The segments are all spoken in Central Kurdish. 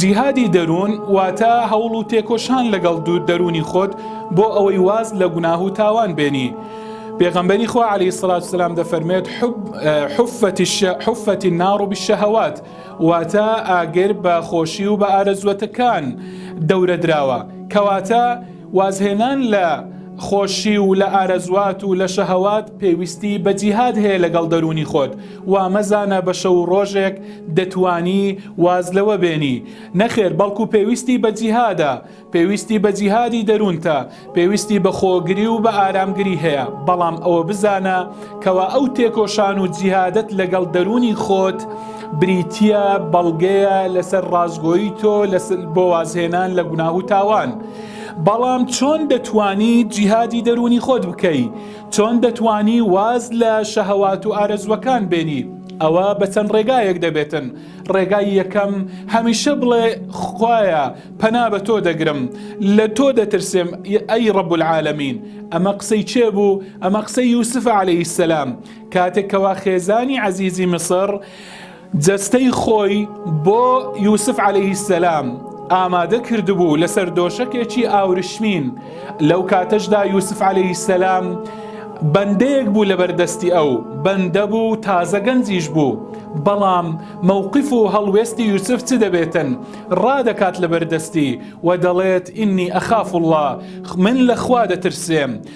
جیهادی دەروون واتە هەوڵ و تێکۆشان لەگەڵ دوو دەروونی خۆت بۆ ئەوەی واز لە گوناه و تاوان بێنی پێغەمبەری خوا عەلی سڵات سلام دەفەرمێت حفەتی ناڕ و بشەهوات واتە ئاگر بە خۆشی و بە ئارەزوەتەکان دەورە دراوە کەواتە وازهێنان لە خۆشی و لە ئارەزوات و لە شەهەوات پێویستی بە جیهاد هەیە لەگەڵ دەروونی خۆت، وا مەزانە بە شەو و ڕۆژێک دەتوانی واز لەوە بێنی، نەخێر بەڵکو پێویستی بە جیهادە، پێویستی بە جیهادی دەروونتە، پێویستی بە خۆگری و بە ئارامگری هەیە، بەڵام ئەوە بزانە کەوا ئەو تێکۆشان و جیهادەت لەگەڵ دەروونی خۆت بریتیە بەڵگەیە لەسەر ڕاستگۆیی تۆ بۆ وازهێنان لە گوناه و تاوان. بەڵام چۆن دەتوانی جیهادی دەروونی خۆت بکەی چۆن دەتوانی واز لە شەهوات و ئارەزوەکان بێنی ئەوە بە چەند ڕێگایەک دەبێتن ڕێگای یەکەم هەمیشە بڵێ خوایە پەنا بە تۆ دەگرم لە تۆ دەترسێم ئەی ڕب العالمین ئەمە قسەی چێ بوو ئەمە قسەی یوسف عليه السلام کاتێکەوە خێزانی عزیزی میسر جەستەی خۆی بۆ یوسف عەلەیهی سەلام ئامادە کردبوو لەسەر دۆشەکێکی ئاورشمین لەو کاتەشدا یوسف عەلەیهی سەلام بەندەیەک بوو لەبەردەستی ئەو بەندە بوو تازە گەنجیش بوو بەڵام مەوقف و هەڵوێستی یوسف چ دەبێتن ڕادەکات لەبەردەستی و دەڵێت ئینی ئەخاف اللە من لەخوا دەترسێم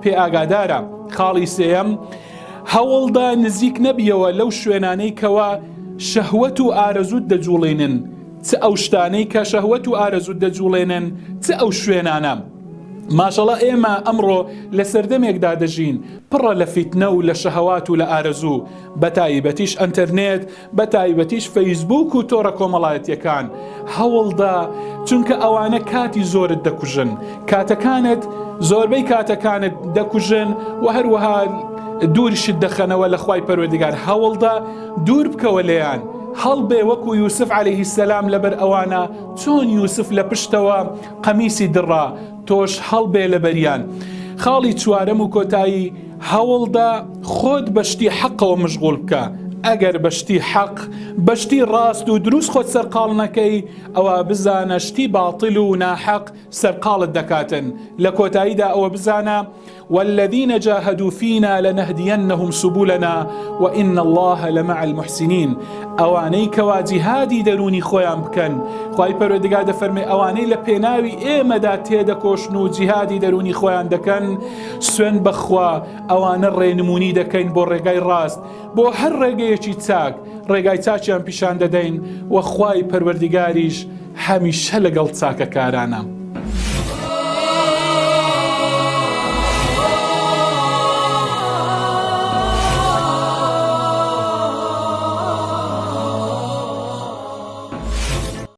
پێ ئاگادارە خاڵی سێەم هەوڵدا نزیک نەبیەوە لەو شوێنانەی کەوا شەهوەت و ئارەزوت دەجوڵێنن چ ئەو شتانەی کە شەهوەت و ئارەزوت دەجوڵێنن چ ئەو شوێنانە. ماشەڵە ئێمە ئەمڕۆ لە سەردەمێکدا دەژین پڕە لە فیتنە و لە شەهوات و لە ئارەزوو بەتایبەتیش ئەتەرنێت بە تایبەتیش فەیسبووک و تۆڕە کۆمەڵایەتیەکان هەوڵدە چونکە ئەوانە کاتی زۆرت دەکوژن کاتەکانت زۆربەی کاتەکانت دەکوژن و هەروەها دوورشت دەخەنەوە لە خی پەروەردگار هەوڵدە دوور بکەوە لێیان هەڵبێ وەکو یوسف عليهەیهی سەسلام لەبەر ئەوانە چۆن یوسف لە پشتەوە قەمیسی دڕا تۆش هەڵبێ لەبەریان خاڵی چوارەم و کۆتایی هەوڵدە خۆت بە شتی حەقەوە مشغول بکە ئەگەر بە شتی حەق بە شتی ڕاست و دروست خۆت سەرقاڵ نەکەی ئەوە بزانە شتی باتل و ناحەق سەرقاڵت دەکاتن لە کۆتاییدا ئەوە بزانە والذین جاهدوا فینا لنهدینهم سبلنا وان الله لمع المحسنین ئەوانەی کەوا جیهادی دەروونی خۆیان بکەن خوای پەروەردگار دەفەرمێ ئەوانەی لە پێناوی ئێمەدا تێدەکۆشن و جیهادی دەروونی خۆیان دەکەن سوێن بەخوا ئەوانە ڕێنمونی دەکەین بۆ ڕێگای ڕاست بۆ هەر ڕێگەیەکی چاک ڕێگای چاچیان پیشان دەدەین و خوای پەروەردیگاریش هەمیشە لەگەڵ چاکەکارانە.